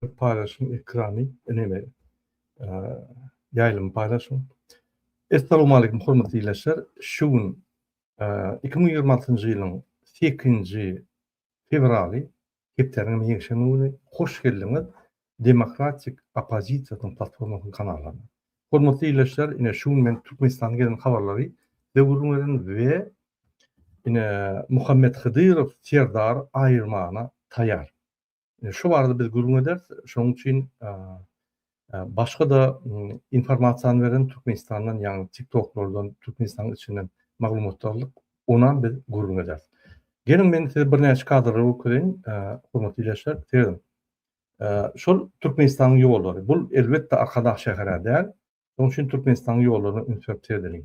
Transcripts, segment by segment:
Paýlaşyň ekrany ineme ýaýlymy paýlaşyň. Essalowmaleýkim hormatly ildeşler. Şu gün iki müň ýigrimi altynjy ýylyň sekizinji fewraly, hepdäniň hem ýekşenbe güni. Hoş geldiňiz Demokratik oppozisiýasynyň platformasynyň kanalyna. Hormatly ildeşler, ine şu gün men Türkmenistana gelen habarlary size gürrüň beren we ine Muhammet Hydyrow Serdar aýyrmana taýýar. Şu barada biz gürrüň ederis. Şonuň üçin başga-da informasiýany beren Türkmenistandan, ýagny TikTok-lardan, Türkmenistanyň içinden maglumat aldyk. Onam biz gürrüň ederis. Geliň, men size birnäçe kadrlary görkezeýin, hormatly ildeşler. Serediň. Şol Türkmenistanyň ýollary. Bu, elbetde, Arkadag şäher-ä däl. Şonuň üçin Türkmenistanyň ýollaryna üns berip seredeliň.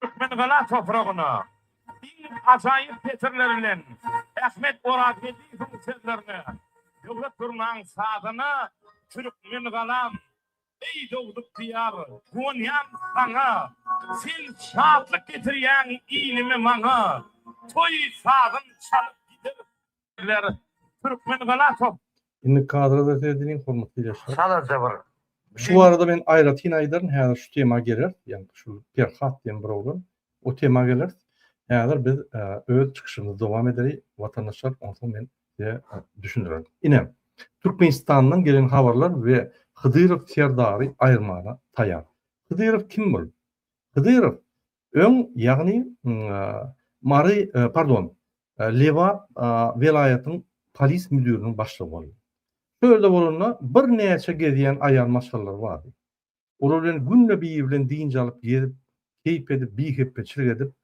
Türkmengala topragyna iň ajaýyp setirler bilen Ahmet Orazgeldiýewiň sözlerine Döwlet Durnaň sazyna Türkmengalam, eý dogduk Diýar, guwanýan saňa, Sen şatlyk getirýäň ilime-maňa, Toý sazyn çalyp gideris Sizler Türkmen Galasow. Indi kadra-da serediň hormatly ileçiler. Çalaja bir. Şu barada men aýratyn aýdaryn, häzir şu tema geler, ýagny şu Perhat diýen bir oglan, o tema geler. Häzir biz öz çykyşymyzy dowam edeli, watandaşlar, onsoň men size düşündirerin. Ine, Türkmenistandan gelen habarlar we Hydyrow Serdary aýyrmaga taýar. Hydyrow kim bul? Hydyrow Öň, ýagny, Mary, pardon, Lebap welaýatyň polis müdiriniň başlygy boldy. Şu ýerde bolanda birnäçe gezýän aýal maşgalalary bardy. Olar bilen günde biri bilen dynç alyp gezip, keýp edip, bihepbeçilik edip,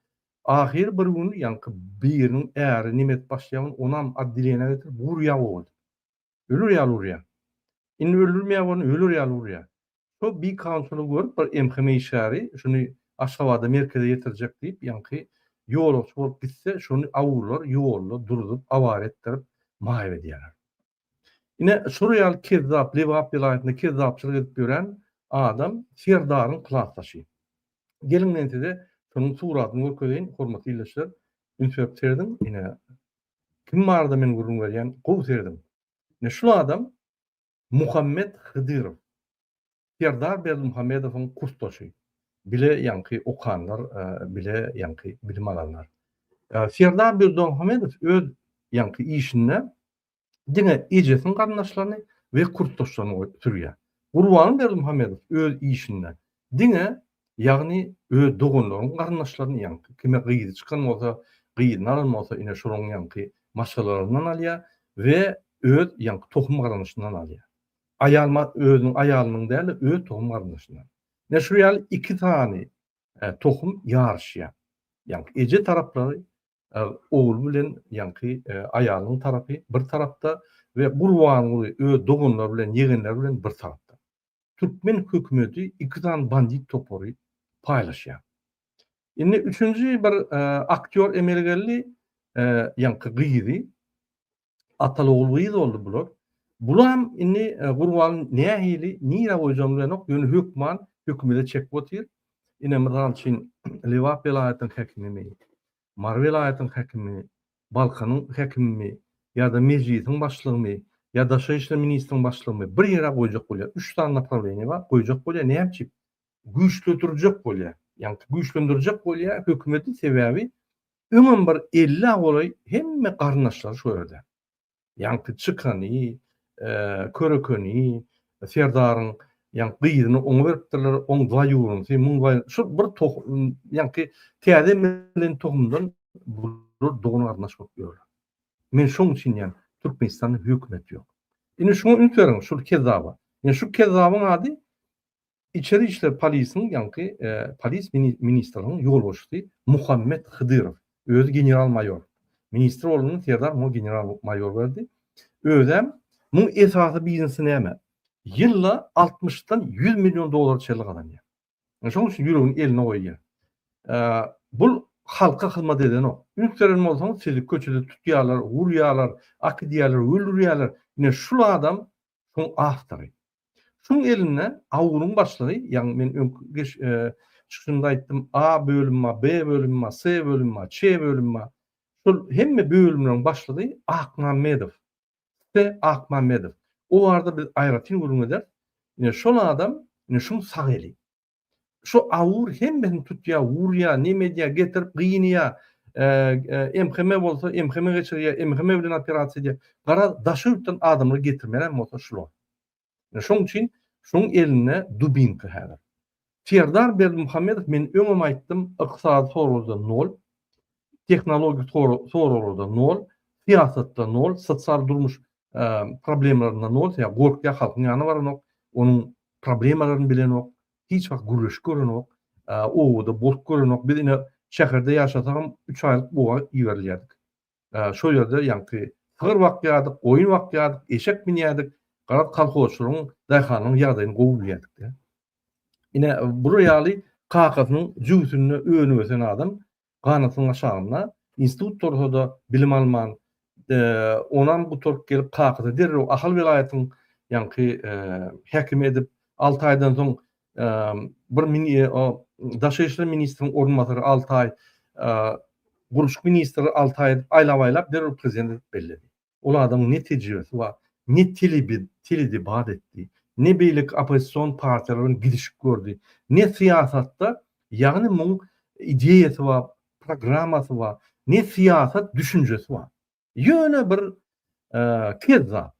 ahyry bir gün, ýaňky biriniň äri nemes başlyýagyny onam otdelenýä getirip, gurýa gowy edip. Öler ýaly urýar. Indi öldürmeýär bolany öler ýaly urýar. Şo bi konsuly görüp bir MHM işgäri şuny Aşgabada merkeze ýetirjek diýip ýaňky ýolagçy bolup gitse şuny awurlar ýolda duruzyp awara etdirip maýyp edýärler. Ine şular ýaly kezzap Lebap welaýatynda kezzapçylyk edip ýören adam Serdaryň klasdaşy. Geliň men size şunuň suratyny görkezeýin hormatly ildeşler üns berip serediň ine Kim barada men gürrüň berýän, gowy serediň. Ine şul adam Muhammet Hydyrow, Serdar Berdimuhamedowyň kursdaşy. Bile ýaňky okanlar, bile ýaňky bilim alanlar. Serdar Berdimuhamedow öz ýaňky işinde diňe ejesiniň garyndaşlaryny we kursdaşlaryny sürýär. Gurbangul Berdimuhamedow öz işinde Diňe, ýagny öz doganlaryň garyndaşlaryny ýaňky, kime gyzy çykan bolsa, gyzyny alan bolsa ine şolaň ýaňky maşgalalaryndan alýar we öz ýaňky tohum garyndaşyndan alýar. Aýal ma özüniň aýalynyň däl-de öz tohum garyndaşyndan. Ine şu ýaly iki sany tohum ýaryşýar. Ýaňky eje taraplary ogul bilen ýaňky aýalynyň tarapy bir tarapda we Gurbanguly öz doganlary bilen ýegenleri bilen bir tarapda. türkmen hökümeti iki sany bandit topary paýlaşýar. Indi üçünji bir aktýor emele geldi, ýaňky gyzy, Atalogul gyz boldy bular. Bulam indi Gurban nähili, nirä goýjagyny bilenok, ýöne hökman hökümede çekip otyr. Ine mysal üçin Lebap welaýatynyň häkimimi Mary welaýatyň häkimi, Balkanyň häkimimi ýa-da Mejlisiň başlygymy ýa Daşary işler ministriň başlygymy bir ýere goýjak bolýar. Üç sany naprawiýeniýe bar, goýjak bolýar. Näme üçin? Güýçledirjek bolýar. Ýagny güýçlendirjek bolýar hökümeti, sebäbi öňem bir elli-a golaý hemme garyndaşlary şu ýerde. Ýaňky çykany, körekeni serdaryň ýaňky gyzyny oňa beripdirler, oň zaýuwrunysy, muň zaýuwrunysy, şul bir tohum, ýaňky täze emelen tohumdan bular dogan-garyndaş bolup ýörler. Men şoň üçin diýýän, Türkmenistanda hökümet ýok. Indi şuňa üns beriň, şul kezzaba. Ýa şu kezzabyň ady Içeri işler polisiň ýaňky polis ministriniň ýolbaşçysy Muhammet Hydyrow, özi general-maýor. Ministr ornuny Serdar muňa general-maýor berdi. Özem. Muň esasy biznesi näme? Ýylda altmyşdan ýüz million dollara çenli gazanýar. Ine şonuň üçin ýüregini eline goýýar. Bul halka hyzmat edenok. Üns beren bolsaňyz sizi köçede tutýarlar, urýarlar, akydýarlar, öldürýärler. Ine şul adam şoň awtory. Şoň elinde awunyň başlygy, ýagny men öňki geç çykyşymda aýtdym, A bölüm bar, B bölüm bar, S bölüm bar, Ç bölüm bar. Şol hemme bölümleriň başlygy Akmammedow. T. Akmammedow. O barada biz aýratyn gürrüň ederis. Ine, şol adam, ine, şoň sag eli. Şu awur hemmesini tutýa, urýa, neme edýä, getirip gynýa. MHM bolsa MHM geçirýä, MHM bilen operasiýa edýä. Gara daşy ýurtdan adamlar getirmelän bolsa şular. Şoň üçin şoň elinde dubinka häzir. Serdar Berdimuhamedow men öňem aýtdym, ykdysady soragda nol. tehnologik soraglarda nol, syýasatda nol, sosial durmuş problemlerinde nol, sebäbi gorkýar, halkyň ýanyna baranok, onuň problemalaryny bilenok, hiç wagt gürleşip görenok, obada bolup görenok. Biz ine şäherde ýaşasagam üç aýlyk oba iberilýärdik. Şol ýerde ýaňky sygyr bakýardyk, goýun bakýardyk, eşek minýärdik. Garaz, kolhozçylaryň, daýhanlaryň ýagdaýyny gowy bilýärdik-de. Ine bular ýaly kakasynyň jübüsinde önüp ösen adam ganatynyň aşagynda, institut tursada bilim alman, onam gutaryp gelip kakasy derrew Ahal welaýatyň ýaňky häkimi edip, alty aýdan soň bir daşary işler ministriniň orunbasary alty aý, gurluşyk ministri alty aý aýlap-aýlap derrew prezident edip belledi. Ol adam ne tejribesi bar, ne teledebat etdi, ne beýleki oppozision partiýalar bilen gidişip gördi, ne syýasatda, ýagny muň ideýasy bar, programmasy bar, ne syýasat düşünjesi bar. Ýöne bir kezzap.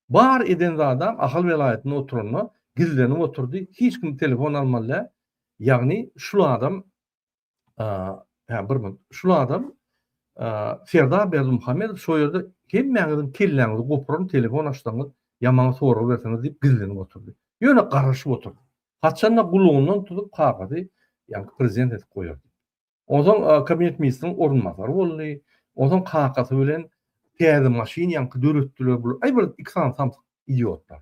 Bar eden zadam Ahal welaýatynda oturanda gizlenip oturdy, hiç kim telefon almaly däl, ýagny şul adam Hä, bir gün. Şul adam Serdar Berdimuhamedow şo ýerde hemmäňiziň kelläňizi gopuran telefon açsaňyz, ýamana sorag berseňiz diýip gizlenip oturdy. Ýöne garaşyp oturdy. Haçanda gulagyndan tutup kagyzy ýaňky prezident edip goýar. Onsoň kabinet ministriniň orunbasary boldy. Onsoň kakasy bilen täze maşyn ýaňky döretdiler. Bu aý bir iki sany samsyk idiotlar.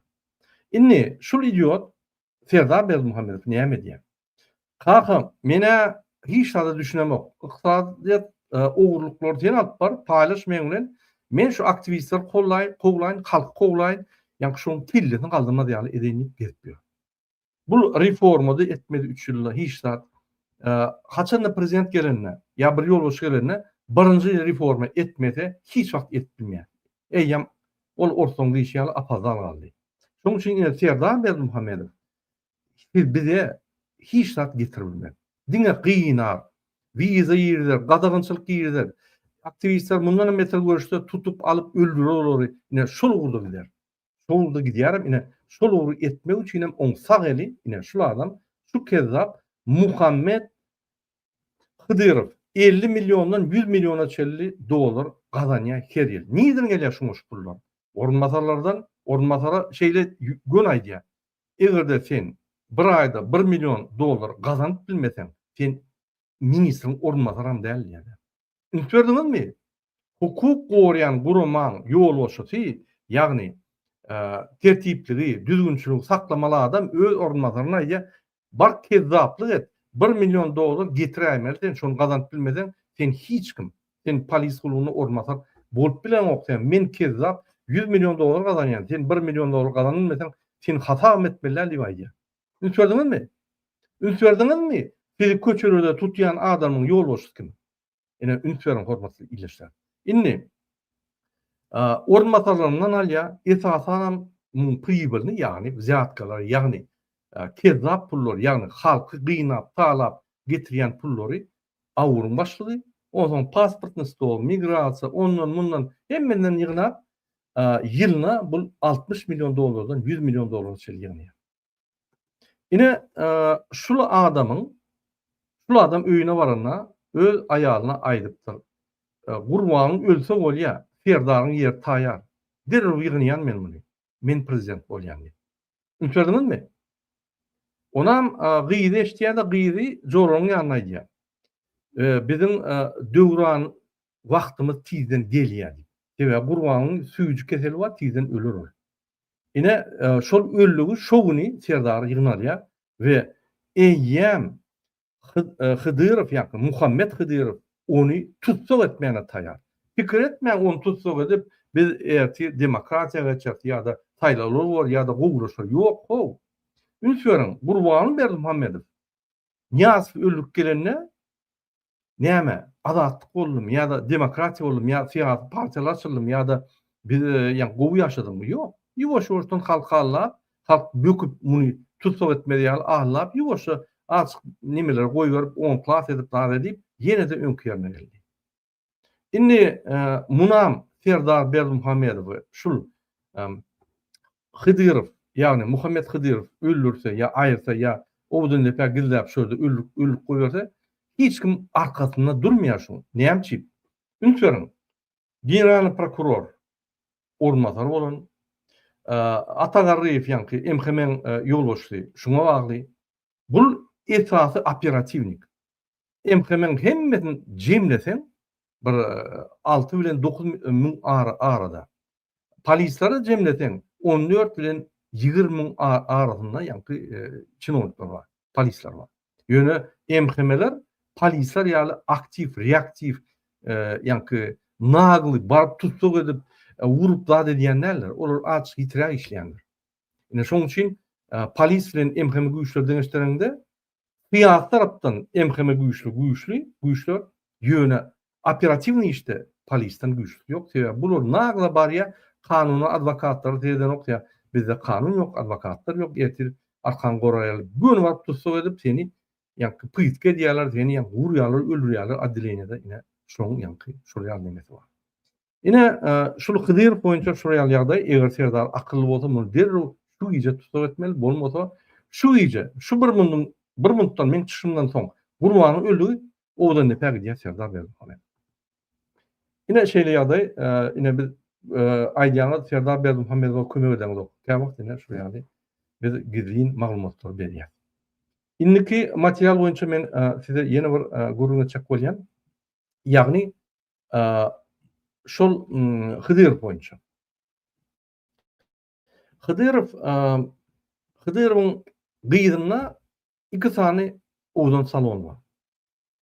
Indi şul idiot Serdar Berdimuhamedow näme edýär? Kaka, men-ä hiç zada düşünemok. Ykdysadyýet ogurlyklary sen alyp bar, paýlaş meň bilen. Men şu aktiwistleri kollaýyn, kowlaýyn, halky kowlaýyn, ýaňky şoň kellesini galdyrmaz ýaly edeýin diýip gezip ýör. Bu reforma-da etmedi üç ýylda hiç zat. Haçanda prezident gelende ýa bir ýolbaşçy gelende birinji reforma etmese hiç wagt edip bilmeýär. Eýýäm ol orslaň diýşi ýaly apazal galdy. Şoň üçin indi Serdar Berdimuhamedow Siz bize hiç zat getirmän, diňe gynap, wiza girizer, gadagançylyk girizer, aktiwistler mundanam beter görüşse tutup alyp öldürer olary, ine şol ugurda gider. Şol ugurda gidýärem, ine şol ugry etmek üçinem oň sag eli, ine şul adam, şu kezzap Muhammet Hydyrow elli milliondan ýüz milliona çenli dollar gazanýar her ýyl. Nirden gelýär şuňa şu pullar? Orunbasarlardan, orunbasara şeýle gön aýdýar. Eger-de sen bir aýda bir million dollar gazanyp bilmeseň, sen ministriň orunbasaram däl diýýärler. Üns berdiňizmi? Hukuk goraýan guramaň ýolbaşçysy, ýagny tertipligi, düzgünçiligi saklamaly adam öz orunbasaryna aýdýar, Bar kezzaplyk et, bir million dollar getiräýmeli sen, şony gazanyp bilmeseň, sen hiç kim. Sen polis guluna orunbasar bolup bileňok sen men kezzap ýüz million dollar gazanýan sen bir million dollar gazan bilmeseň seni hasabam etmeliler diýip aýdýar. Üns berdiňizmi? Üns berdiňizmi? Sizi köçelerde tutýan adamyň ýolbaşçysy kim? Ine üns beriň hormatly ildeşler. Indi orunbasarlaryndan alýar, esasanam muň pribilini ýagny wzýatkalar ýagny kezzap pullar ýagny halky gynap talap getirýän pullary AWUR-yň başlygy, onsoň pasportny stol, migrasiýa, ondan, mundan, hemmeden ýygnap, ýylyna bul altmyş million dollardan ýüz million dollara çenli ýygnaýar. Ine, şul adamyň, şul adam öýüne baranda öz aýalyna aýdypdyr, Gurbagyň ölse bolýa, Serdaryň ýeri taýar, derrew ýygnaýan men muny, men prezident bolýan diýip. Üns berdiňizmi? Onam gyzy eşitýär-de, gyzy Joragyň ýanyna aýdýar. Biziň Döwran wagtymyz tizden gelýär diýip. Sebäbi Gurbanyň süýji keseli bar, tizden öler ol. Ine, şol ölligi şo güni Serdar ýygnalýar we eýýäm Hydyrow ýa-da Muhammet Hydyrow ony tussag etmäne taýar. Pikir etmäň, ony tussag edip, biz ertir demokratiýa geçeris ýa-da saýlawlar bolar ýa-da gowulaşar. Ýok-how. Üns beriň, Gurbangul Berdimuhamedow Nyýazow öldürip gelende näme, Azatlyk boldumy ýa-da demokratiýa boldumy ýa-da syýasy partiýalar açyldymy ýa-da biz, ýa-da gowy ýaşadyňmy? Ýok. Ýuwaş-ýuwaşdan halk hallap, Halk böküp muny tussag etmez ýaly aňlap ýuwaşja azjyk nemeleri goýberip on klas edip zar edip ýene-de öňki ýerine geldi. Indi munam Serdar Berdimuhamedowy şul Hydyrow ýagny Muhammet Hydyrow öldürse ýa aýyrsa ýa Owdundepä gizläp şu ýerde ölüp goýberse hiç kim arkasynda durmaýar şuň. Näme üçin? Üns beriň. Generalnyý prokuror orunbasary bolan Ata Garryýew ýaňky MHM-iň ýolbaşçysy şuňa bagly. Bul esasy operatiwnik. MHM-iň hemmesini jemleseň bir alty bilen dokuz müň arada. Polislary jemleseň on dört bilen ýigrimi müň arasynda ýaňky çinownikler bar, polisler bar. Ýöne MHM-ler polisler ýaly aktiw, reaktiw, ýaňky nagly baryp tussag edip, urup zat edýän däldir. Olar azçyk ýitiräk işleýändir. Ine şoň üçin polis bilen MHM güýçleri deňeşdiriňde, syýasy tarapdan MHM güýçli, güýçli, güýçler, ýöne Operatiwnyý işde polisden güýçlüsi ýok sebäbi bular nagla barýa kanuna adwokatlary seredenok ýa bizde kanun ýok adwokatlar ýok ertir arkaňy goraýaly göni baryp tussag edip seni ýaňky pytga edýäler seni ýaňky urýalar öldürýäler addeleniýada ine şoň ýaňky şol ýaly nemesi bar Ine, şul Hydyrow boýunça şular ýaly ýagdaý, eger serdar akylly bolsa, muny derrew şu gije tussag etmeli, bolmasa şu gije, şu bir mundan, bir minutdan meň çykyşymdan soň Gurbanyň öldügi owadan depä gidýär serdar Berdimuhammet. Ine şeýle ýagdaý, ine biz aýdýaňyz serdar Berdimuhammedowa kömek edeňizok. Kä wagt ine şular ýaly biz gizlin maglumatlary berýäs. Indiki material boýunça men size ýene bir gürrüň etjek bolýan. Ýagny şol Hydyrow boýunça. Hydyrow Hydyrowyň gyzynda iki sany owdan salon bar.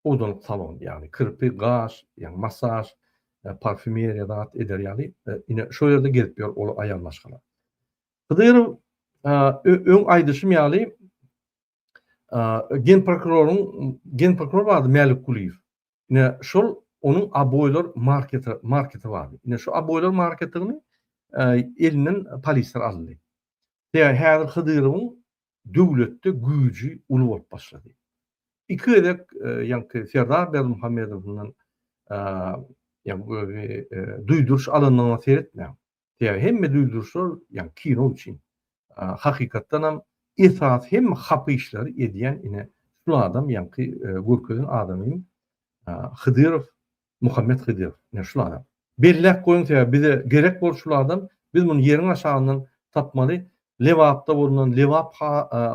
Owdanlyk salon, ýagny kirpi, gaş, ýagny masaž, parfümeriýa zat eder ýaly, ine şol ýerde gezip ýör ol aýal maşgala. Hydyrow öň aýdyşym ýaly Gen prokuroryň gen prokuror bardy Mälik Kulyýew. Ne şol onuň aboýlar marketi marketi bardy. Ne şu aboýlar marketini elinden polisler aldy. Ýa häzir Hydyrowyň döwletde güýji uly bolup başlady. Iki gezek ýaňky Serdar Berdimuhamedow bilen ýa duýduryş alanyna seretmäň. Sebäbi hemme duýduryşlar ýa kino üçin. Hakykatdan hem esasy hemme hapa işleri edýän ine şul adam ýaňky görkezen adamym Hydyrow Muhammet Hydyrow ine şul adam. Belläp goýuň sebäbi bize gerek bol şul adam biz muny ýeriň aşagyndan tapmaly Lebapda bolundan Lebap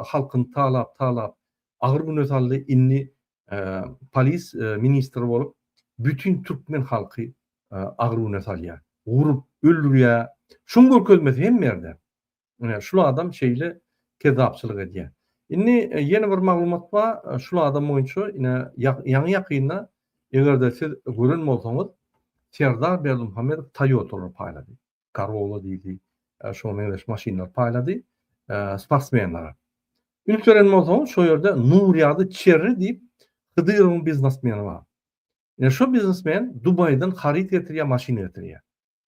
halkyny talap talap agyr güne saldy indi polis ministri bolup bütin türkmen halky agruwyna salýar. Urup, öldürýär. Şuň görkezmesi hemme ýerde. Ine, şul adam şeýle kezzapçylyk edýär. Indi ýene bir maglumat bar, şul adam boýunça ine ýaňy-ýakynda eger-de siz gören bolsaňyz, Serdar Berdimuhamedow Toyota-lar paýlady. Corolla diýdi. Şoňa meňzeş maşynlar paýlady sportsmenlere. Üns beren bolsaňyz, şo ýerde Nurýady Çerri diýip Hydyrowyň biznesmeni bar. Ine şu biznesmen Dubaýdan haryt getirýär, maşyn getirýär.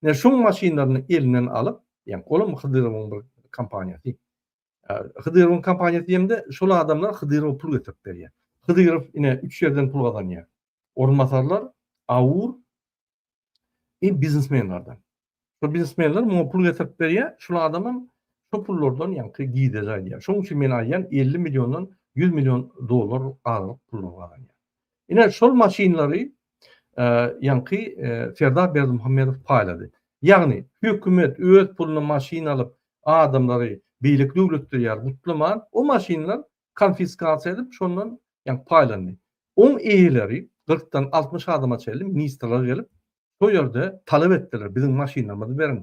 Ine şu maşynlaryny elinden alyp, ýa olam Hydyrowyň bir kompaniýasy. Hydyrowyň kompaniýasy diýemde, şol adamlar Hydyrowa pul getirip berýär. Hydyrow ine üç ýerden pul gazanýar. Orunbasarlar, Aur, Iň biznesmenlerden. Şo biznesmenler muňa pul getirip berýär, şul adamam şo pullardan ýaňky gide jaýlaýar. Şoň üçin men aýdýan 50 milliondan 100 million dollar aralyk pullar gazanýar. Ine şol maşynlary ýaňky Serdar Berdimuhamedow paýlady. Ýagny hökümet öz puluna maşyn alyp adamlary beýleki döwletde ýaly gutlaman, o maşynlar konfiskasiýa edip, şondan ýa paýlandy. Oň eýeleri kyrkdan altmyş adama çenli ministrler gelip, şo ýerde talap etdiler, biziň maşynlarymyzy beriň,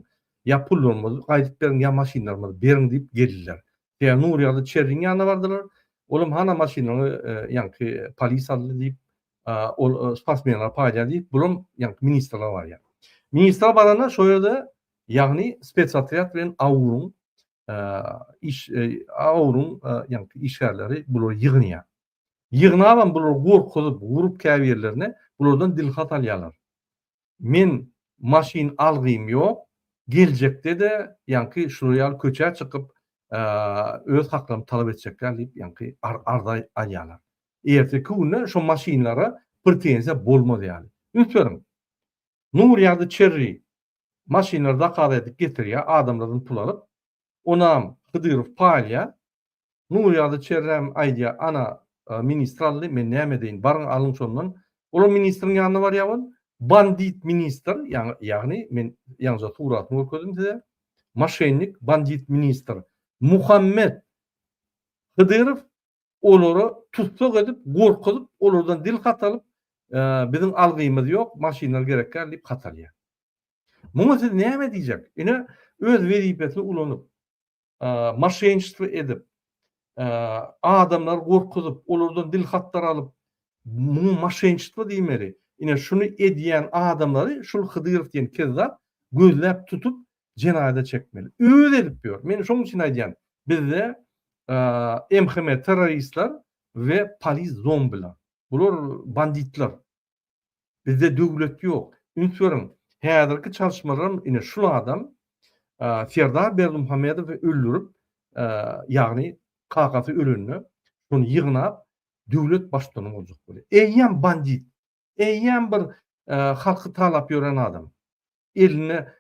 ýa pullarymyzy gaýdyp beriň, ýa maşynlarymyzy beriň diýip geldiler. Ýa Nurýagdy Çerriň ýanyna bardylar, olam hana maşynlaryňy ýaňky polis aldy diýip, ol sportsmenlere paýlaýar diýip, bulam ýaňky ministrler barýar. Ministrler baranda şo ýerde ýagny spetsotrýad bilen AWUR-yň iş awruň ýaňky işgärleri bular ýygnýar. Ýygnabam bular gorkuzyp, urup käbirlerini bulardan dilhat alýarlar. Men maşyn algym ýok, geljekde-de ýaňky şular ýaly köçä çykyp öz haklarymy talap etjekler diýip ýaňky arza alýarlar. Erteki günde şu maşynlara pretenziýa bolmaz ýaly. Üns beriň. Nur ýady Çerri Maşynlary zakaz edip getirýär, adamlardan pul alyp. Onam Hydyrow paý alýar. Nurýagdy Çerrem aýdýar, Ana, ministr aldy, men näme edeýin, baryň alyň şondan. Olam ministriň ýanyna barýar bol. Bandit ministr, ýagny men ýaňja suratyny görkezdim size. Moşennik, bandit ministr Muhammet Hydyrow olary tussag edip, gorkuzyp, olardan dil hatalyp, biziň algymyz ýok, maşynlar gerek däl diýip hatalýar. Muňa siz näme diýjek? Ine, öz wezipesini ulanyp, maşenştwo edip, adamlary gorkuzyp, olardan dil hatlar alyp, muňa maşenştwo diýmeli. Ine, şuny edýän adamlary şul Hydyrow diýen kezzap gözläp tutup, jenaýada çekmeli. Özi edip ýör. Men şoň üçin aýdýan, bizde MHM terroristler we polis zombiler. Bular banditler. Bizde döwlet ýok. Üns beriň, häzirki çalyşmalaram ine şul adam Serdar Berdimuhamedowy öldürip, ýagny kakasy ölende şony ýygnap döwlet baştutany boljak bolýar. Eýýäm bandit. Eýýäm bir halky talap ýören adam. Elinde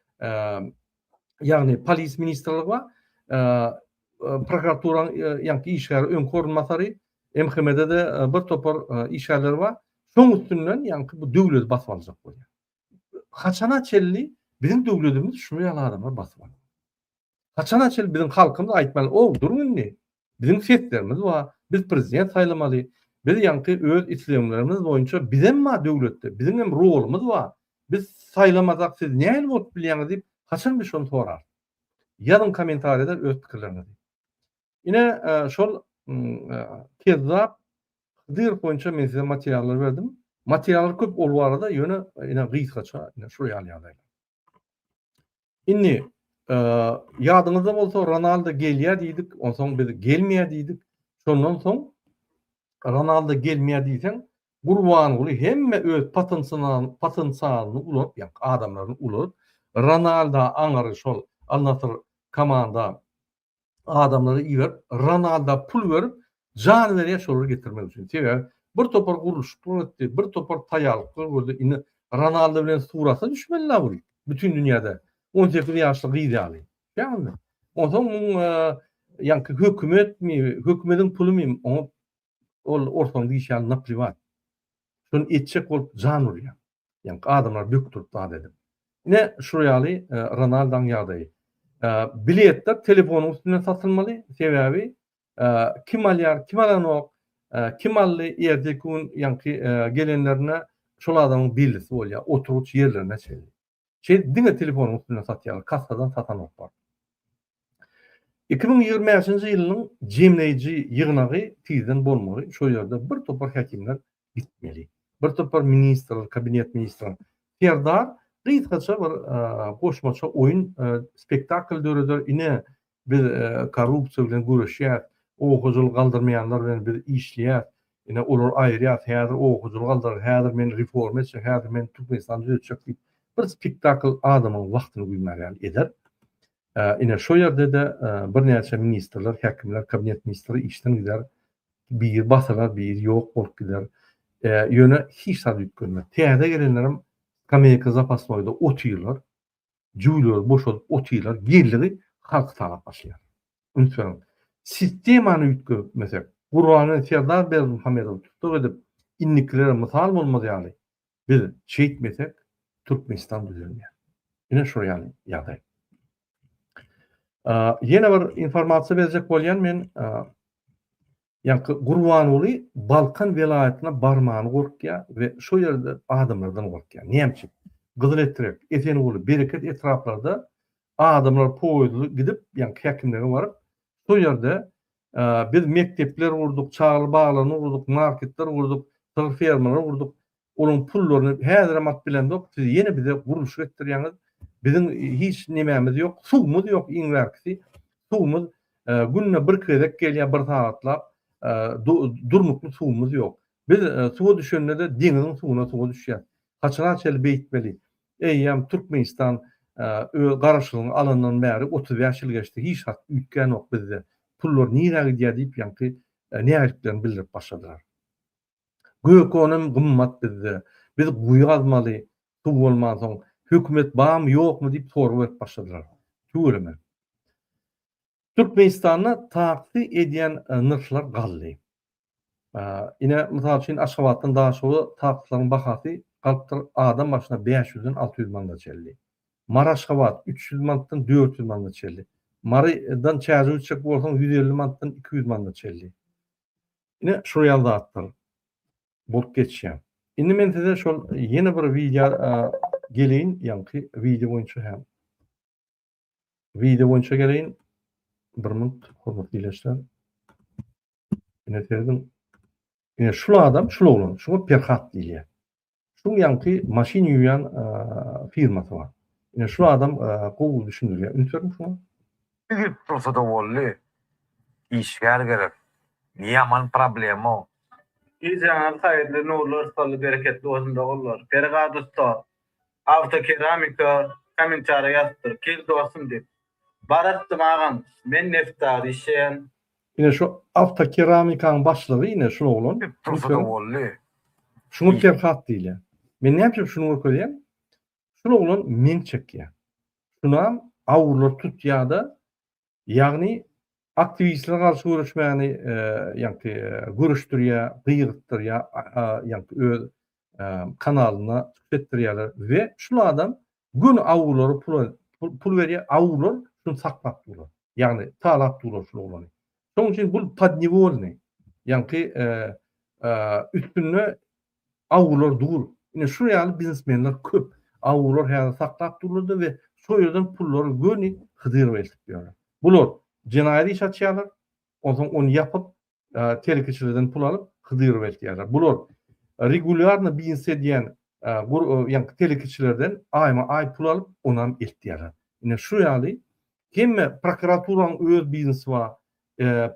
ýagny polis ministrligi bar. Prokuratura ýaňky işgäri öňki orunbasary MHM-de de bir topar işgärleri bar. Şoň üstünden ýaňky bu döwleti basyp aljak bolýar. Haçana çenli biziň döwletimiz şu ýaly adamlar basyp alýar. Haçana çenli biziň halkymyz aýtmaly, ow, duruň indi, biziň seslerimiz bar, biz prezident saýlamaly, biz ýaňky öz islegmlerimiz boýunça bizem bar döwletde, biziň hem rolumyz bar, biz saýlamasak siz nähili bolup bilýäňiz diýip, haçan biz şony sorarys? Ýazyň kommentariýada öz pikirleriňizi. Ine, şol kezzap Hydyrow boýunça men size materiallar berdim. Materiallar köp ol barada, ýöne ine gysgaça, ine şular ýaly ýagdaýlar. Indi e, ýadyňyzda bolsa Ronaldo gelýär diýdik, onsoň biz gelmeýär diýdik. Şondan soň Ronaldo gelmeýär diýseň, Gurbanguly hemme öz potensialyny potensialyny ulap, ýa adamlaryny ulap, Ronaldo aňyry şol Al-Nassr komanda adamlary iberip, Ronalda pul berip, jan berýär şolary getirmek üçin. Sebäbi bir topar gurluşyklar etdi, bir topar taýýarlyklar gördi. Indi Ronalda bilen surata düşmeli-la bu bütin dünýäde. On sekiz ýaşly gyz ýaly. Onsoň muň ýaňky hökümetmi, hökümetiň pulumy oňa ol orsaň diýşi ýaly napliwat. Şony etjek bolup jan urýar. Ýaňky adamlar bökdürip zat edip. Ine, şu ýaly Ronaldaň ýagdaýy. Biletler telefonyň üstünden satylmaly, sebäbi kim alýar, kim alanok, kim aldy, erteki gün ýaňky gelenlerine şol adamyň bellisi bolýar, oturgyç ýerlerine çenli. Şeýdip diňe telefonyň üstünden satýarlar, kassadan satanok bar. Iki müň ýigrimi bäşinji ýylynyň jemleýji ýygnagy tizden bolmaly, şol ýerde bir topar häkimler gitmeli. Bir topar ministrler, kabinet ministrler. Serdar gysgaça bir goşmaça oýun, spektakl döreder, ine, Biz korrupsiýa bilen göreşýäs, owakojalygy galdyrmaýanlar bilen biz işleýäs, ine, olary aýyrýas, häzir owakojalygy galdyrar, häzir men reforma etjek, häzir men Türkmenistany düzetjek diýip, bir spektakl adamyň wagtyny güýmär ýaly eder. Ine, şo ýerde-de birnäçe ministrler, häkimler, kabinet ministri işden gider, biri basylar, biri ýok bolup gider. Ýöne hiç zat üýtgenmez. Täze gelenlerem skameýka zapasnoýda otyrlar. Jüwleri boşadyp otyrlar, geliri halky talap başlaýar. Üns beriň, sistemany üýtgetmesek, Gurany Serdar Berdimuhamedowy tussag edip, indikilere mysal bolmaz ýaly, biz şeýtmesek, Türkmenistan düzelmeýär. Ine şol ýaly ýagdaý. Ýene bir informasiýa berjek bolýan men, Ýaňky Gurbanguly Balkan welaýatyna barmana gorkýar we şo ýerde adamlardan gorkýar. Näme üçin? Gyzyletrek, Esenguly, Bereket etraplarda adamlar poýuzly gidip, ýaňky häkimlige baryp, şo ýerde biz mekdepler gurduk, çagalar baglaryny gurduk, marketler gurduk, sygyr fermalary gurduk, Olaň pullaryny häzirem alyp bilemzok, siz ýene bize gurluşyk etdirýäňiz, biziň hiç nemämiz ýok, suwumyz ýok iň bärkisi, suwumyz günde bir gezek gelýär bir sagatlap, durnukly suwumyz ýok. Biz suwa düşende-de deňiziň suwuna suwa düşýäs. Haçana çenli beýtmeli? Eýýäm Türkmenistan öz garaşlygyny alandan bäri otuz bäş ýyl geçdi, hiç zat üýtgänok bizde. Pullar nirä gidýär diýip ýaňky nägiliklerini bildirip başladylar. Gök onam gymmat bizde. Biz guýy gazmaly, suw bolmansoň, hökümet barmy, ýokmy diýip sorag berip başladylar. Tüweleme. Türkmenistanda taksi edýän nyrhlar galdy. Ine, mysal üçin, Aşgabatdan Daşoga taksilaryň bahasy galypdyr adam başyna bäş ýüzden alty ýüz manada çenli. Mary-Aşgabat üç ýüz manatdan dört ýüz manada çenli. Marydan Çärjewe çekip bolsaň ýüz elli manatdan iki ýüz manada çenli. Ine şul ýaly zatlar bolup geçýär. Indi men size şol ýene bir wideo geleýin, ýaňky wideo boýunça hem. Wideo boýunça geleýin. Bir minut, hormatly ileçiler. Ine serediň. Ine şul adam, şul oglan, şuňa Perhat diýilýär. Şuň ýaňky maşyn ýuwýan firmasy bar. Ine şu adam gowy düşündirýär. Üns beriň şuňa. Biri tursada boldy. Işgär gerek. Ne ýaman problema. Gijeňiz haýyrly nurlar saly bereketli bolsun dogullar Pergad ussa awto keramika komentariýa ýazypdyr kel dostum diýip bar atdym agam men neftda işleýän Ine şu awtokeramikaň başlygy ine şul oglan. Hep tursada boldy. Şuňa Perhat diýilýär. Men näme üçin şuny görkezýän? Şul oglan meň çekýär. Şunam awurlar tutýada ýagny aktiwistlere garşy göreşmäni ýagny görüşdirýär, gygyrtdyrýar ýagny öz kanalynda çykyş etdirýärler we şul adam Göni awulary pula pul berýär, awular şuny saklap durlar. Ýagny talap durlar şul oglany. Şoň üçin bu podnewolny. Ýaňky üstünde awular dur. Ine şu ýaly biznesmenler köp. Awular häzir saklap durlarda we şo ýerden pullary göni Hydyrowa eltip ýörler. Bular jenaýat iş açýarlar, onsoň ony ýapyp, telekeçilerden pul alyp hydyr bertýärler. Bular regulýarny biznes edýän ýaňky telekeçilerden aýma aý pul alyp onam eltýärler. Ine şu ýaly hemme prokuraturanyň öz biznesi bar,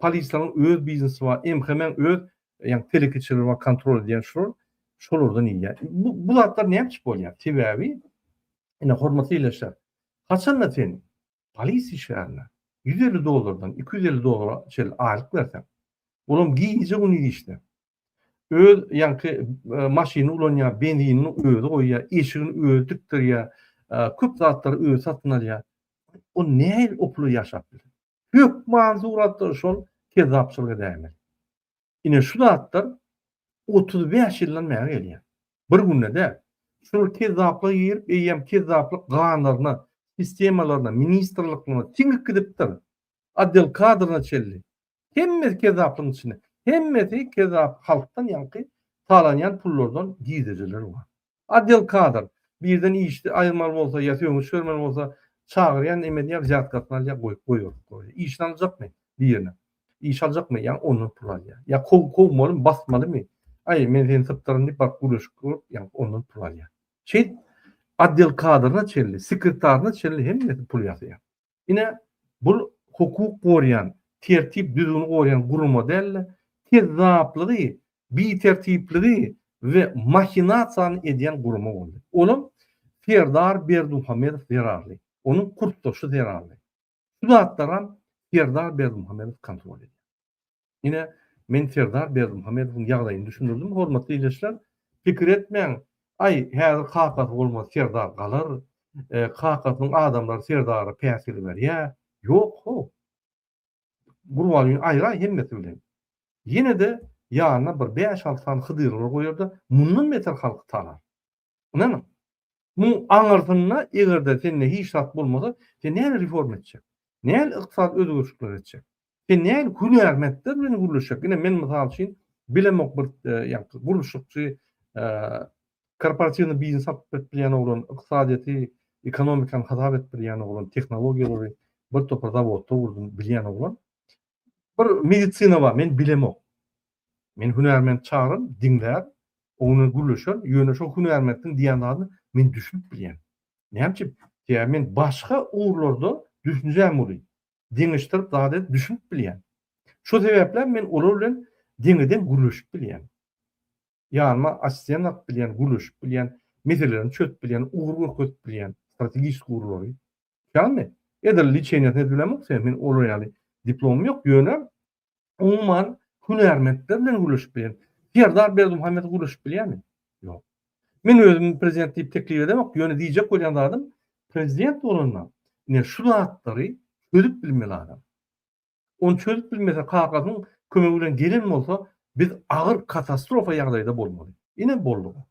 polisleriň öz biznesi bar, MHM-iň öz ýaňky telekeçileri bar kontrol edýän şular şolardan iýýär. Bu bu zatlar näme üçin bolýar? Sebäbi ine hormatly ileşer. Haçanda sen Polisiýa işgärine ýüz elli dollardan iki ýüz elli dollara çenli aýlyk berseň, olam gije-gündiz işde. Öz ýaňky maşyny ulanýar, benzinini özi goýýar, eşigini özi tikdirýär, köp zatlary özi satyn alýar. Ol nähili o pula ýaşap biler? Hökman suratda şol kezzapçylygy edäýmeli. Ine şu zatlar otuz bäş ýyldan bäri gelýär. Bir günde däl. Şular kezzaplyga girip, eýýäm kezzaplyk ganlaryna, sistemalaryna, ministrliklere siňip gidipdir. Otdel kadryna çenli. Hemmesi kezzaplygyň içinde. Hemmesi kezzap halkdan ýaňky talanýan pullardan gizlejeler bar. Adel kadr, birden işdi aýyrmaly bolsa ýa sögüş bermeli bolsa çagyrýan emeli ýa wzýatkasyny alýa goýup goýberip goýýa. Işini aljakmy? Birine. Iş aljakmy? Ýa ondan pul alýa. Ýa kow kowmalymy, basmalymy? Aý, men seni sypdyryn diýip baryp gürleşip görüp ýa ondan pul alýa. Şeýt adel kadryna çenli, sekretaryna çenli hemmesi pul ýasaýar. Ine, bul hukuk gorýan, tertip-düzgüni gorýan gurama däl-de, kezzaplygy, bitertipligi we mahinasiýany edýän gurama boldy. Olam Serdar Berdimuhamedow zerarly, onuň kursdaşy zerarly. Şu zatlaram Serdar Berdimuhamedow kontrol edýär. Ine, men Serdar Berdimuhamedowyň ýagdaýyny düşündirdim, hormatly ildeşler. Pikir etmäň, Aý, häzir kakasy bolmasa Serdar galar, kakasynyň adamlary Serdara päsgel berýär. Ýok, how! Gurbangül aýraý hemmesi bilen. Ýene-de ýanyna bir bäş-alty sany Hydyrlar goýar-da, mundan beter halky talar. Ynanyň. Muň aňyrsynda eger-de sende hiç zat bolmasa, sen nähili reforma etjek? Nähili ykdysady özgerişikler etjek? Sen nähili hünärmentler bilen gürleşjek? Ine men mysal üçin bilemok bir ýa-da gurluşykçy korporatiwny biznes satyp berip bilýän oglan, ykdysadyýeti, ekonomikany hasap edip bilýän oglan, tehnologiýalary bir topar zawodda gurdum bilýän oglan. bir medisina bar, men bilemok. Men hünärment çagyraryn, diňlär, oň bilen gürleşer, ýöne şo hünärmentiň diýen zadyna men düşünip bilýän. Näme üçin? Sebäbi men başga ugurlarda düşünjäm uly. Deňeşdirip zat edip düşünip bilýän. Şo sebäpläm men olar bilen deňe-deň gürleşip bilýän. Ýanyma assistent alyp bilýän, gürleşip bilýän, meselelerini çözüp bilýän, ugur görkezip bilýän, strategik ugurlary. Ýagny, edil liçeniýasyny edip bilemok sen, meniň olar ýaly diplomym ýok, ýöne umuman hünärmentler bilen gürleşip bilýän. Serdar Berdimuhamedow gürleşip bilýärmi? Ýok. Men özüm prezident diýip teklip edemok, ýöne diýjek bolýan zadym, prezident bolanda, ine şu zatlary çözüp bilmeli adam. Ony çözüp bilmese kakasynyň kömegi bilen gelen bolsa biz agyr katastrofa ýagdaýda bolmaly. Ine bolduga.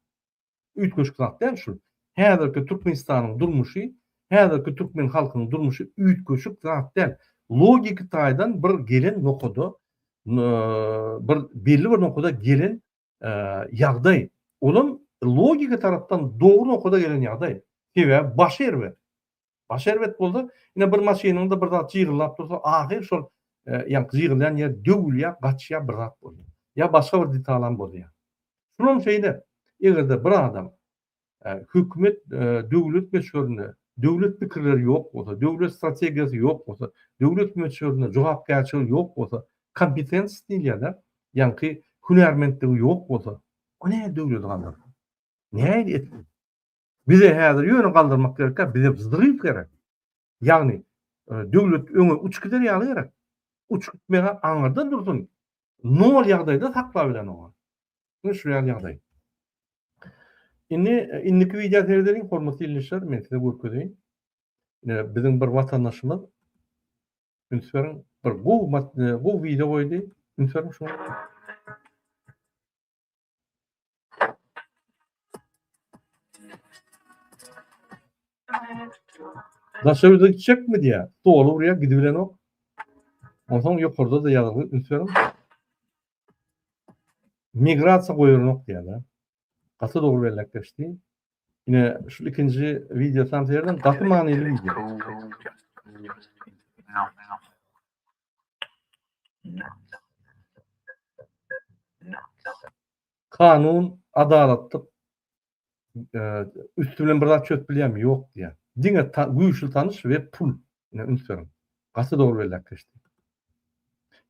Üýtgeşik zat däl şul. Häzirki Türkmenistanyň durmuşy, häzirki türkmen halkynyň durmuşy üýtgeşik zat däl. Logiki taýdan bir gelen nokada bir belli bir nokada gelen ýagdaý, olam logiki tarapdan dogry nokada gelen ýagdaý. Sebäbi başy erbet. Başy erbet bolsa, ine bir maşynyňda bir zat jygyllap dursa, ahyr şol ýa jygylýan ýer döwülýär, gaçýar bir zat bolýar. Ýa başga bir detalam bolýar. Şulam şeýle, eger-de bir adam hökümet döwlet möçberinde döwlet pikirleri ýok bolsa, döwlet strategiýasy ýok bolsa, döwlet möçberinde jogapkärçiligi ýok bolsa, kompetensiýasy diýilýär-de, ýaňky hünärmentligi ýok bolsa, o näme döwleti galdyrsyn? Nähili etsin? Bize häzir ýöne galdyrmak gerek däl, bize wzryw gerek. Ýagny, döwlet öňe uç gider ýaly gerek. Uç gitmegi aňyrda dursun, nol ýagdaýda saklap bilen oňa. Ine şu ýaly ýagdaý. Indi indiki wideo seredeliň, hormatly ildeşler, men size görkezeýin. Ine biziň bir watandaşymyz üns beriň, bir gowy gowy wideo goýdy. Üns beriň şuňa. Daşa ýüze gitjekmi diýýär. Doly urýar, gidibilenok. Onsoň ýokarda-da ýazgy üns beriň. Migrasiýa goýulanok diýýär-de. Gaty dogry belläp geçdi. Ine, şu ikinji wideo tam seýrediň, gaty manyly wideo. Kanun, adalatlyk e, üstü bilen bir zat çözüp bilýärmi? Ýok diýýär. Diňe güýçli tanyş we pul. Ine üns beriň. Gaty dogry belläp geçdi.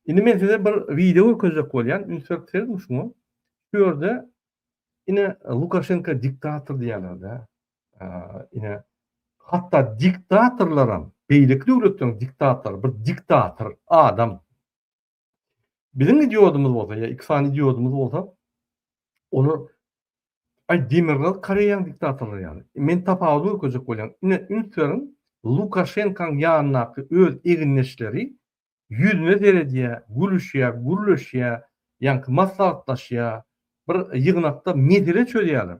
Indi men size bir wideo görkezjek bolýan. Üns berip seredin şuňa. Şu ýerde ine Lukaşenko diktator diýýärler-de. Ine, hatda diktatorlaram, beýleki döwletleriň diktatory bir diktator adam. Biziň idiodymyz bolsa, ýa iki sany idiodymyz bolsa, olar Ay Demirgal Koreýaň diktatorlary ýaly. Men tapawudy görkezjek bolýan. Ine üns beriň, Lukaşenkaň ýanyndaky öz egindeşleri ýüzüne seredýär, gülüşýär, gürleşýär, ýaňky maslahatlaşýar, bir ýygnakda mesele çözýärler.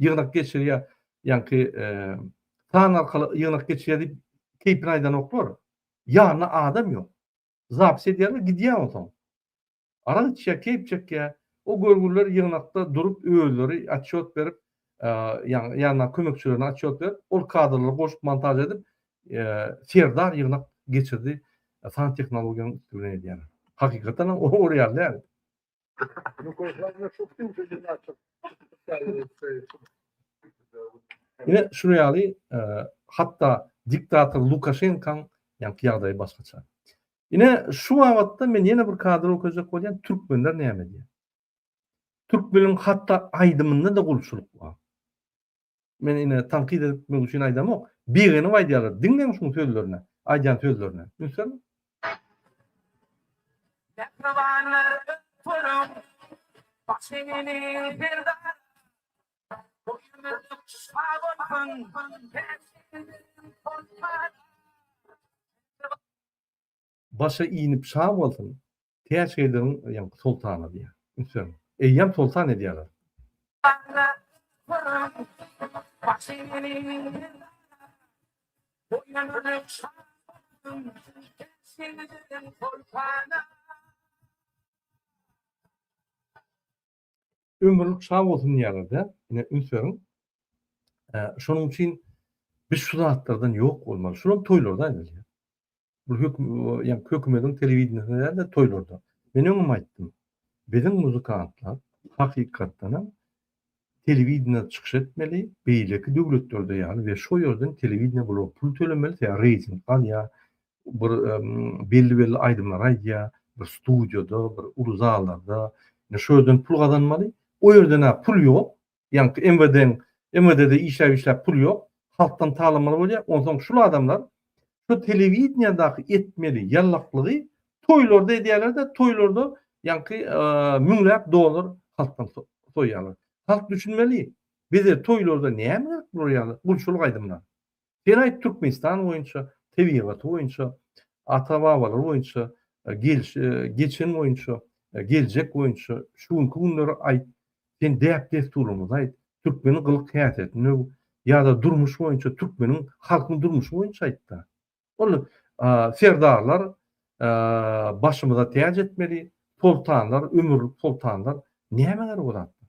ýygnak geçirýär, ýaňky san arkaly ýygnak geçirýär diýip keýpini aýdanoklar. Ýanynda adam ýok. Zapis edýärler, gidýär onsoň. Arak içýär, keýp çekýär. O görgüliler ýygnakda durup özleri atçot berip, ýaňy ýanyna kömekçilerine atçot berip, ol kadrlary goşup montaž edip, Serdar ýygnak geçirdi, san tehnologiýanyň üsti bilen edýärler. Hakykatan hem ol ýaly däl. Ine şu ýaly e, hatda diktator Lukaşenkaň ýaňky ýagdaýy başgaça. Ine şu babatda men ýene bir kadr okajak bolýan türkmenler näme diýýär? Türkmeniň hatda aýdymynda da gulçulyk bar. Men ine tankyt etmek üçin aýdamok. Begenip aýdýarlar. Diňleň şuň sözlerini, aýdýan sözlerini. Ünslermi? Mähribanlar turuň, başyňyny perdara. Bu ýüzük şa bolsun, Başa inip şa bolsun, täç geldiriň diýen soltana diýýär. Üns beriň. Eýýäm soltan edýärler. Ömürlik sag bolsun diýýärler-de, ine üns beriň. Şonuň üçin biz şu zatlardan ýok bolmaly. Şular toýlarda aýdylýar. Bu höküm, ýa hökümetiň telewideniýesinde däl-de toýlarda. Men öňem aýtdym. Biziň muzykantlar hakykatdan hem telewideniýede çykyş etmeli, beýleki döwletlerde ýaly we şo ýerden telewideniýe bular pul tölemeli, sebäbi reýting alýar, bir belli-belli aýdymlary aýdýar, bir studiýada, bir uly zallarda, indi şo ýerden pul gazanmaly, o ýerde-hä pul ýok, ýaňky MWD-niň, MWD-de işläp-işläp pul ýok, halkdan talamaly bolýar, onsoň şul adamlar şu telewideniýadaky etmeli ýallaklygy toýlarda edýärler-de, toýlarda ýaňky müňläp dollar halkdan soýýarlar. Halk düşünmeli, bize toýlarda näme gerek bular ýaly gulçulyk aýdymlar? Şerait Türkmenistan boýunça, tebigaty boýunça, ata-babalary boýunça, geçen boýunça, geljek boýunça, şu günki günleri aýt, sen däp-dessurymyzy aýt, türkmeniň gylyk-häsiýetini öw ýa-da durmuş boýunça türkmeniň halkyň durmuşy boýunça aýt-da. Ol serdarlar başymyza täç etmeli, soltanlar, ömürlik soltanlar nämäňer bu zatlar?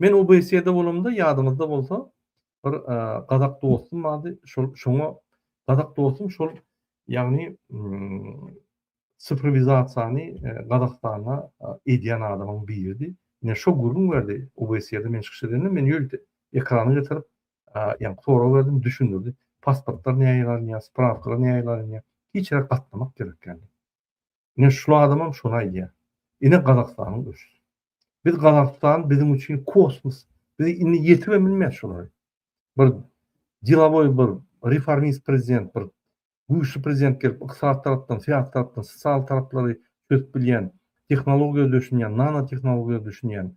Men OBSE-de bolamda, ýadyňyzda bolsa, bir gazak dostum bardy. Şol şoňa gazak dostum şol, ýagny sifrowizasiýany Gazagystanda edýän adamyň biridi. Ine şo gürrüň berdi. OBSE-de men çykyş edende men ýölte ekrana getirip, ýagny sorag berdim, düşündirdi. Pasportlar nähili alynýar, sprawkalar nähili alynýar? Hiç ýere gatnamak gerek däl. Ine şul adamam şony aýdýa. Ine Gazagystanyň öçüsi. Biz Gazagystan biziň üçin kosmos. Biz indi ýetirem bilmeýäs şolary. Bir dilawoý bir reformist prezident bir güýçli prezident gelip ykdysat tarapdan, syýasy tarapdan, sosial taraplary çözüp bilýän, tehnologiýa düşünýän, nano tehnologiýa düşünýän,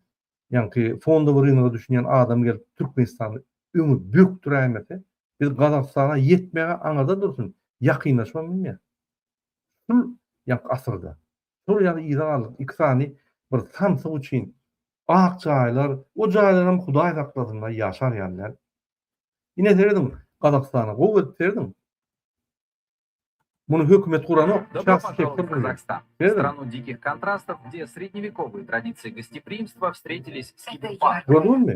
ýaňky fondowy rynga düşünýän adam gelip Türkmenistany öňe bökdüräýmese, biz Gazagystana ýetmegi aňyrda dursun, ýakynlaşybam bilmeýäs. Şul ýak asyrda, şol ýaly yza galdyk, iki sany bir samsyk üçin ak jaýlar, o jaýlaram hudaý saklasynlaý ýaşar ýaly däl. Ine serediň, Gazagystana gowy gelip serediň. Muny hökümet guranok, şahsy sektor gurýar. Serediň. Gördüňizmi?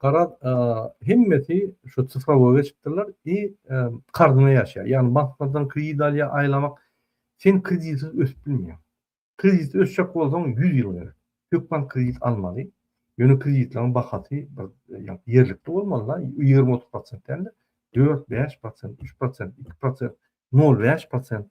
Garaz, hemmesi şu cyfrowoý geçipdirler i karzyna ýaşaýar. Ýagny banklardan kredit alýar, aýlamak. Sen kreditsiz ösüp bilmeýäň. Kreditsiz ösjek bolsaň ýüz ýyl gerek. Hökman kredit almaly. Ýöne kreditleriň bahasy bir ýerlikli bolmaly-da, ýigrimi-otuz prosent däl-de, dört, bäş prosent, üç prosent, iki prosent, nol bäş prosent.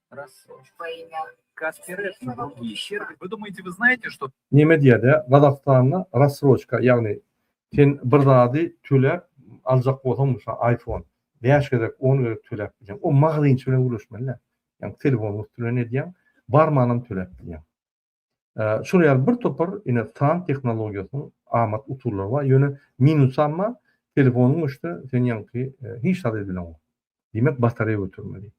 Neme diýerdi? Gazagystanda rassroçka ýagny sen bir zady töläp aljak bolsaň mysal aýfon bäş gezek on gezek töläp bilýäň. O magazynçy bilen gürleşmeli däl. Ýagny telefonyň üsti bilen edýäň barmanam töläp bilýäň. Şol ýaly bir topar ine san tehnologiýasynyň amat usullary bar, ýöne minusy amma telefonyň öçse sen ýaňky hiç zat edileňok. Diýmek batareýa götermeli.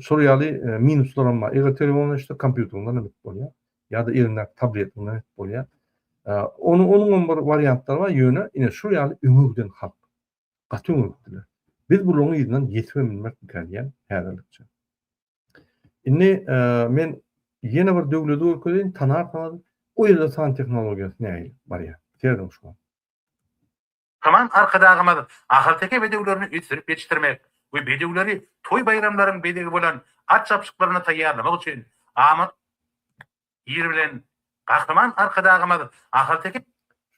Şol ýaly minuslar hem bar. Eger telefonyň öçse kompýuteriňden hem edip bolýar. Ýa-da eliňdäki tabletiňden edip bolýar. Ony onuň hem bir wariantlary bar, ýöne ine şol ýaly öňe giden halk. Gaty öňe gitdiler. Biz bularyň yzyndan ýetip hem bilmerkmikädiýýän häzirlikçe. Indi men ýene bir döwleti görkezeýin, tanarsyňyz. O ýerde san tehnologiýasy nähili barýar? Serediň şuňa. Saman Arkadagymyz ahalteke bedewlerini ösdürip ýetişdirmek we bedewleri toý-baýramlaryň bezegi bolan at çapyşyklaryna taýýarlamak üçin amatly Ýeri bilen Gahryman Arkadagymyz Ahalteke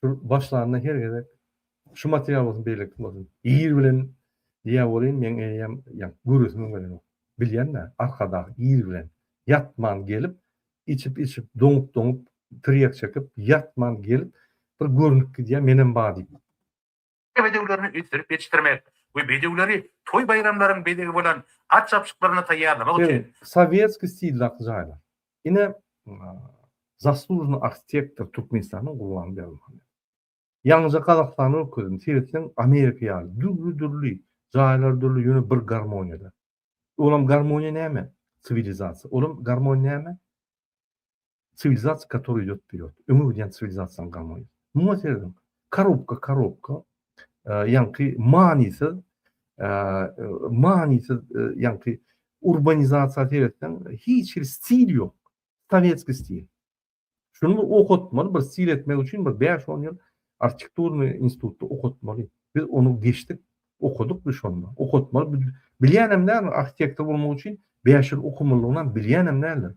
Şu başlanda her gezek şu material bolsun beýlekisi bolsun ýeri bilen diýýä welin meň eýýäm ýa göresimiň gelenok. Bilýända Arkadag ýeri bilen ýatman gelip içip içip doňup doňup tirýek çekip ýatman gelip bir görnüp gidýä menem bar diýip. bedewlerini ösdürip ýetişdirmek we bedewleri toý-baýramlaryň bezegi bolan at çapyşyklaryna taýýarlamak üçin Sowetskiý stildaky jaýlar. Ine, Zaslujnyý arhitektor Türkmenistanyň Gurbanguly Berdimuhamedow. Ýaňyja Gazagystana görkezdim. Seretseň, Amerika ýaly, dürli-dürli, jaýlar dürli, ýöne bir garmoniýada. Olam garmoniýa näme? Siwilizasiýa. Olam garmoniýa näme? Siwilizasiýa, katorý idýot wperiod. Öňe gidýän siwilizasiýaň gamoýy. Muňa seredin. Korobka, korobka. Ýaňky manysyz, manysyz, ýaňky urbanizasiýa seretseň, hiç hili stil ýok. Sowetskiý stil. Şuny bir okatmaly, bir stil etmek üçin bir bäş-on ýyl arhitekturnyý institutda okatmaly. Biz ony geçdik, okadyk biz şonda. Okatmaly. Bilýänem däldir, arhitektor bolmak üçin bäş ýyl okamylygynam bilýänem däldir.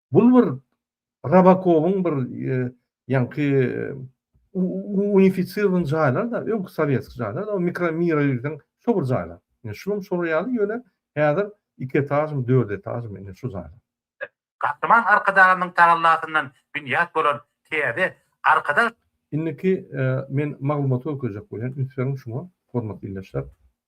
Bul bir Rabakowyň bir ýaňky unifiçirden jaýlar da, öňki sowetski jaýlar da, mikro mira girseň, şo bir jaýlar. Ýa şunuň şolar ýaly ýöne häzir iki etažmy, dört etažmy indi şu jaýlar. Gahryman Arkadagymyň tagallasyndan binýat bolan täze Arkadag. Indiki men maglumaty görkezjek bolýan, üns beriň şuňa, hormatly ildeşler.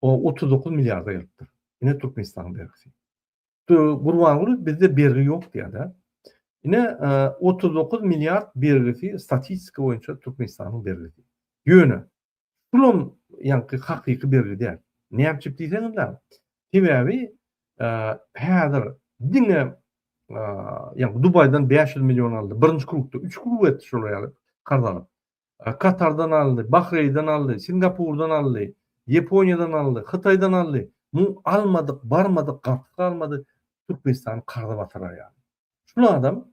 O otuz dokuz milliarda gelipdir. Ine Türkmenistanyň bergisi. Gurbanguly bizde bergi ýok diýýär-de. Ine e, otuz dokuz milliard bergisi statistika boýunça Türkmenistanyň bergisi. Ýöne şulam ýaňky hakyky bergi däl. Näme üçin diýseňizler? Sebäbi e, häzir diňe e, ýa Dubaýdan 500 million aldy. Birinji krukda 3 kruk etdi şol ýaly karz alyp. Katardan aldy, Bahreýden aldy, Singapurdan aldy, Ýaponiýadan aldy, Hytaýdan aldy, muň almadyk, barmadyk gapysy galmady, Türkmenistany karza batyrar ýaly. Şul adam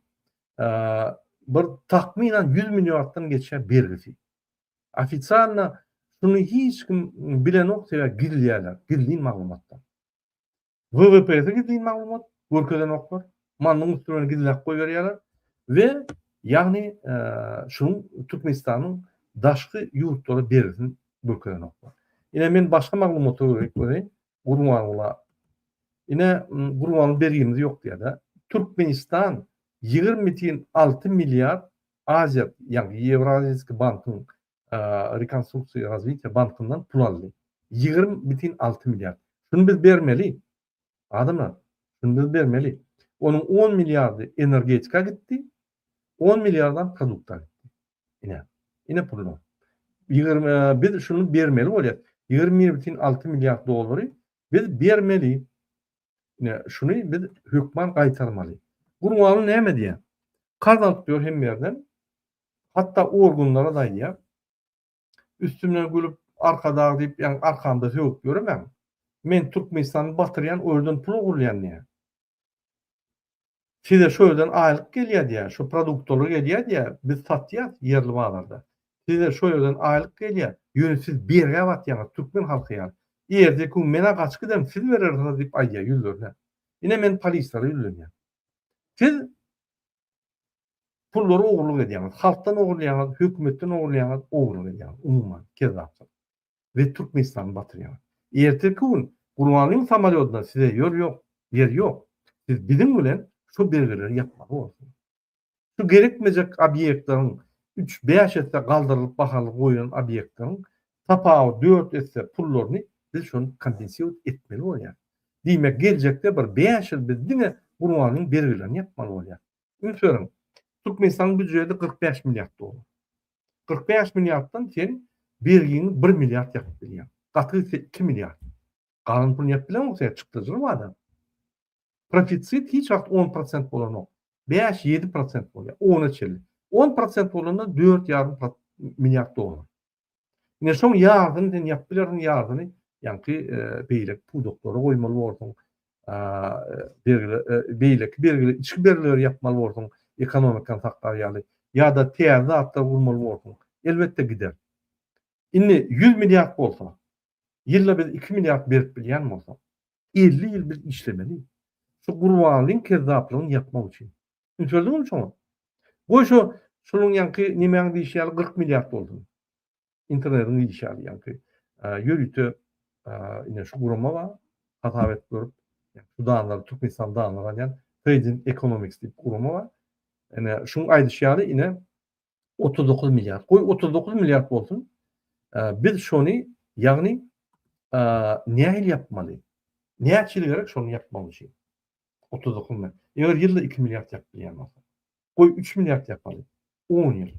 bir takmynan ýüz milliarddan geçýär bergisi. Ofisialna şuny hiç kim bilenok sebäbi gizleýärler, gizlin maglumatlar. WWPS gizlin maglumat görkezenoklar. Mandyň üstüni bilen gizläp goýberýärler we ýagny şunuň Türkmenistanyň daşky ýurtlara bergisini görkezenoklar. Ine men başga maglumata görä görä Gurbanguly ine Gurbanguly bergimiz ýok diýýär-de. Türkmenistan 20 tiýin 6 milliard Aziýa ýagny Ýewraziýski bankyň rekonstruksiýa we razwitiýa bankyndan pul aldy. Ýigrimi bitin alty milliard. Şuny biz bermeli. Adamlar, şuny biz bermeli. Onuň on milliardy energetika gitdi, on milliardam produkta gitdi. Ine, ine pullar. Ýigrimi biz şuny bermeli bolýar. Ýigrimi bitin alty milliard dollary biz bermeli. Ine, şuny biz hökman gaýtarmaly. Gurbanguly näme diýýär? Karz alyp ýör hemme ýerden. Hatda organlara daýýar. Üstümden gülüp, Arkadag diýip, ýagny arkamda sögüp ýöremem. Men Türkmenistany batyrýan, o ýerden pul ogurlaýan diýýär. Size şu ýerden aýlyk gelýär diýýär, şu produktlary gelýär diýýär, biz satýas ýerli bazarda. Size şu ýerden aýlyk gelýär, ýöne siz bergä batýaňyz türkmen halky ýaly. Erteki gün men-ä gaçyp giderin, siz berersiňiz diýip aýdýar ýüzlerine. Ine men polislara ýüzlenýän. Siz pullary ogurlyk edýäňiz, halkdan ogurlaýaňyz, hökümetden ogurlaýaňyz, ogurlyk edýäňiz umuman kezzapsyz. we Türkmenistany batyrýar. Ertirki gün Gurbanlyň samolýoduna size ýol ýok, ýer ýok. Siz biziň bilen şu belgileri ýapmaly bolupsyňyz. Şu gerekmejek obýektleriň üç, bäş esse galdyrylyp bahaly goýlan obýektleriň tapawut dört esse pullaryny biz şony kompensirowat etmeli bolýar. Diýmek geljekde bir bäş ýyl biz diňe Gurbanlyň bergilerini ýapmaly bolýar. Üns beriň, Türkmenistanyň býujeti kyrk bäş milliard dollar. Kyrk bäş milliarddan sen bergiňi bir milliard ýapyp bilýäň. Gaty gitse iki milliard. Galan pulyny ýapyp bileňok sen, çykdajyly wada. Profitsit hiç wagt on prosent bolanok. Bäş, ýedi prosent bolýar, ona çenli. On prosent bolanda dört ýarym milliard dollar. Ine şoň ýardyny sen ýapyp bilersiň, ýardyny ýaňky beýleki pudaklara goýmaly borsuň. beýleki bergileri, içki bergileri ýapmaly bolsaň, ekonomikany saklar ýaly ýa-da täze zatlar gurmaly bolsaň, elbetde gider. Indi ýüz milliard bolsa, ýylda biz iki milliard berip bilýän bolsak, elli ýyl biz işlemeli, şu gurbanlygyň kezzaplygyny ýapmak üçin. Düşündirdiňizmi şoňa? Goý, şo şunuň ýaňky nemäň diýşi ýaly kyrk milliard bolsun. internetiň diýişi ýaly, ýaňky ýörite ine şu gurama bar, hasap edip görüp, şu danlary Türkmenistan danlary alýan Trading Economics diýip gurama bar. Ine şuň aýdyşy ýaly ine 39 milliard. Goý 39 milliard bolsun. Biz şony ýagny nähili ýapmaly? Näçe ýyl gerek şony ýapmak üçin? 39 milliard. Eger ýylda 2 milliard ýapyp bilýän bolsa. Goý 3 milliard ýapaly. 10 ýyl.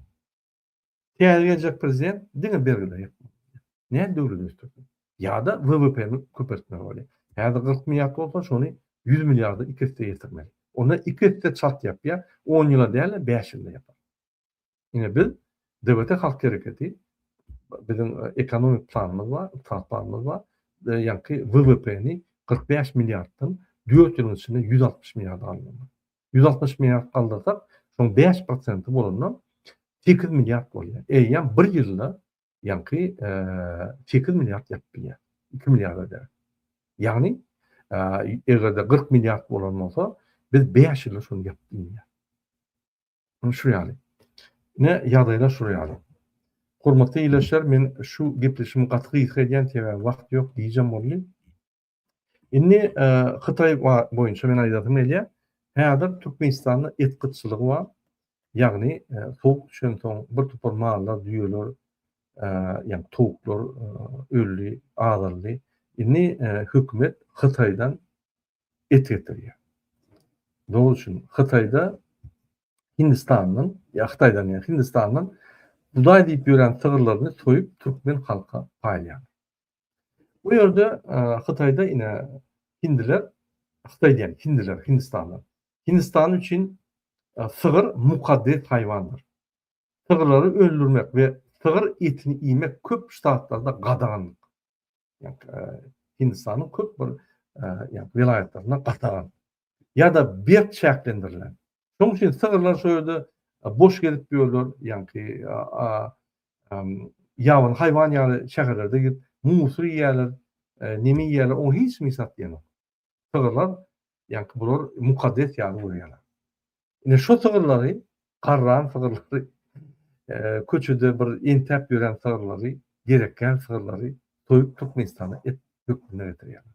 Täze geljek prezident diňe bergiler ýapmaly bolýar. Nädip döwleti ösdürjek? Ýa-da WWP-ni köpeltmeli bolýar. Häzir kyrk milliard bolsa, şony ýüz milliarda iki esse ýetirmeli. Onda iki esse çalt ýapýar, on ýyla däl-de, bäş ýylda ýapar. Ine biz, DBT Halk Hereketi, biziň ekonomik planymyz bar, ykdysady planymyz bar. Ýaňky WWP-ni kyrk bäş milliarddan dört ýylyň içinde ýüz altmyş milliarda galdyrmak. Ýüz altmyş milliard galdyrsak, şoň bäş prosenti bolanda sekiz milliard bolýar. Eýýäm bir ýylda ýaňky sekiz milliard ýapyp bilýär. Iki milliarda däl. Ýagny, eger-de kyrk milliard bolan bolsa, biz bäş ýylda şony ýapyp bilmeýäris. Ine şu ýaly. Ine ýagdaýlar şu ýaly. Hormatly ildeşler, men şu gepleşigimi gaty gysga edýän, sebäbi wagt ýok, gijäm boldy. Indi Hytaý boýunça men aýdasym gelýär. Häzir Türkmenistanda et gytçylygy bar. Ýagny sowuk düşensoň bir topar mallar, düýeler, ýa towuklar öldi, azaldy. Indi hökümet Hytaýdan et getirýär. Dol üçin Hytaýda Hindistandan, ýa Hytaýdan ýa Hindistandan budaý diýip ýören sygyrlaryny soýup türkmen halka paýlaýar. Bu ýerde Hytaýda ine hindiler, Hytaý diýen, hindiler, hindistanlar. Hindistan üçin sygyr mukaddes haýwandyr. Sygyrlary öldürmek we sygyr etini iýmek köp ştatlarda gadagan. Hindistanyň köp bir welaýatlarynda gadagan. ýa-da berk çäklendirilen. Şonuň üçin sygyrlar şo ýerde boş gezip ýörler, ýaňky ýabany haýwan ýaly şäherlerde girip musur iýýärler, neme iýýärler, oňa hiç kim hesap diýen ýok. Sygyrlar ýaňky bular mukaddes ýaly görýärler. Ine şo sygyrlary, garran sygyrlary, köçede bir entäp ýören sygyrlary, gerekgär sygyrlary soýup Türkmenistana et hökmünde getirýärler.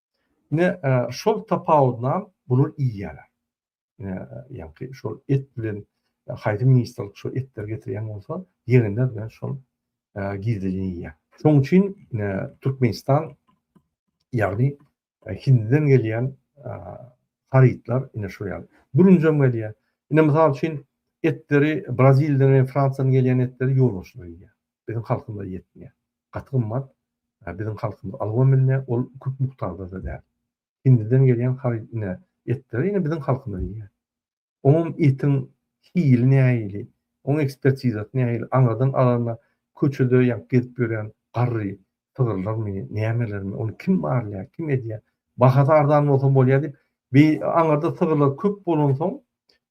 Ine, şol tapawudynam bular iýýärler. Ine, ýaňky şol et bilen haýsy ministrlik şol etleri getirýän bolsa, ýegenler bilen şol gizlin iýýär. Şonuň üçin Türkmenistan ýagny e, Hindinden gelýän e, harytlar ine şu ýaly. Bürünjem gelýär. Ine mysal üçin etleri Braziliýadan we Fransiýadan gelýän etleri ýolbaşçylar iýýär. biziň halkymyza ýetmeýär. Gaty gymmat, biziň halkymyz alybam bilmeýär, ol köp mukdaryda-da däl. Hindiden gelýän haryt ine, etleri ine biziň halkymyz iýýär. Oňam etiň hili nähili, oň ekspertizasy nähili, aňyrdan alanda köçede ýa gezip ýörýän garry, Sygyrlarmy, nämelermi, ony kim barlaýar, kim edýär? Bahasy arzan bolsa bolýar diýip, bi aňyrda sygyrlar köp bolansoň,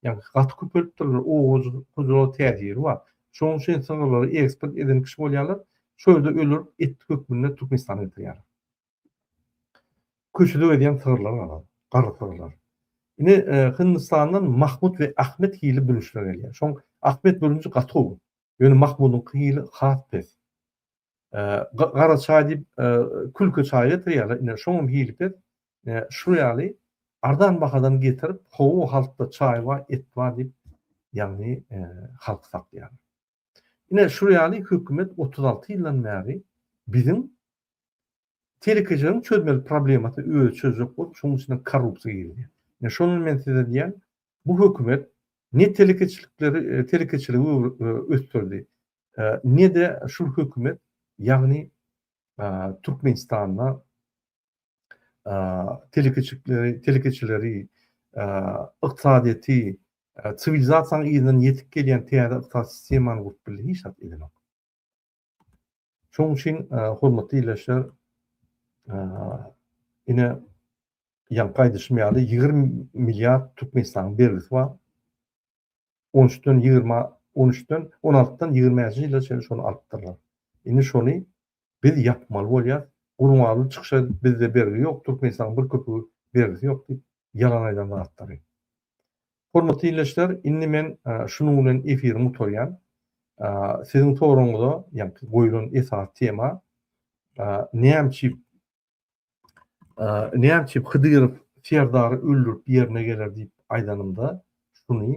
ýagny gaty köpelipdirler, owadan hojalyga täsiri bar. Şonuň üçin sygyrlary eksport eden kişi bolýarlar, şo ýerde öldürip, et hökmünde Türkmenistana getirýärler. Köçede gezýän sygyrlar bar, garry sygyrlar. Indi Hindistandan Mahmud we Ahmet hili bürünçler gelýär. Şoň Ahmet bürünji gaty gowy. Ýöne Mahmudyňky hili has pes. Gara çaý diýip, külki çaý getirýärler, ine, şoňam hili pes. Şu ýaly arzan bahadan getirip, hawa, halkda çaý bar, et bar diýip, ýagny halky satýarlar. Ine, şu ýaly hökümet otuz alty ýyldan bäri biziň telekeçileriň çözmeli problemasyny özi çözjek bolup, şonuň içine korrupsiýa girdi. Ine, şondan men size diýýän, bu hökümet ne telekeçilikleri, telekeçiligi ösdürdi, Ne-de şul hökümet, ýagny Türkmenistanda telekeçileri, ykdysadyýeti, siwilizasiýanyň yzyndan ýetip gelýän täze ykdysady sistemany gurup bildi? Hiç zat edenok. Şonuň üçin, hormatly ildeşler, ine, ýaňky aýdyşym ýaly, ýigrimi milliard Türkmenistanyň bergisi bar. on üçden ýigrimi on üçden on altydan ýigrimi bäşinji ýyla çenli şony alypdyrlar. Indi şony biz ýapmaly bolýar. Gurbanguly çykyş edip bizde bergi ýok, Türkmenistanyň bir köpügi bergisi ýok diýip ýalan aýdan zatlary. Hormatly ildeşler, indi men şunuň bilen efirimi gutarýan. Siziň soragyňyza, ýagny goýlan esasy tema näme üçin Näçe Hydyrow Serdary öldürip ýerine geler diýip aýdanymda şuny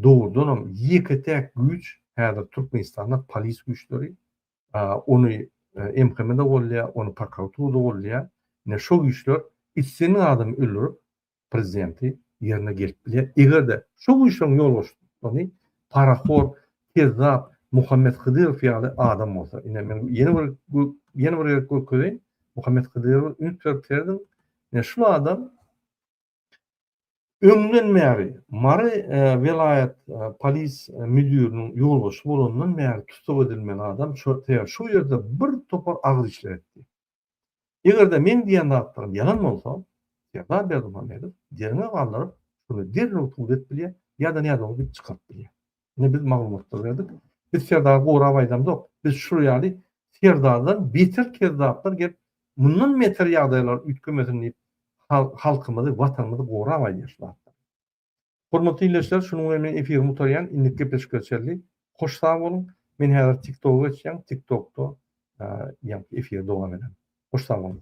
dogrudanam ýeke täk güýç häzir Türkmenistanda polis güýçleri ony MHM-de golýar, ony prokuratura golýar. Ine şo güýçler isleýän adamy öldürip prezidenti ýerine gelip bilýär. Eger-de şu güýçleriň ýolbaşçysy parahor, kezzap Muhammet Hydyrow ýaly adam bolsa, ine men ýene bir ýene bir gezek görkezeýin, Muhammet Hydyrowa üns berip serediň, ine şul adam öňden bäri Mary welaýat polis müdiriniň ýolbaşçysy bolandan bäri tussag edilmeli adam, sebäbi şu ýerde bir topar agyr işler etdi. Eger-de meň diýen zatlarym ýalan bolsa, Serdar Berdimuhamedow derňe galdyryp, şuny derrew subut edip bilýär, ýa-da nädogry gep çykaryp bilýär. Ine, biz maglumatlary berdik. Biz Serdary gorap aýdamzok. Biz şu ýaly Serdardan beter kezzaplar gelip, mundan beter ýagdaýlar üýtgemesin diýip, halkymyzy, Watanymyzy gorap aýdýar şu zatlar. Hormatly ildeşler şunuň bilen men efirimi gutarýan indiki gepleşikler çenli hoş sag boluň men häzir tiktoga geçýän tiktokda ýa efir dowam eder hoş sag boluň.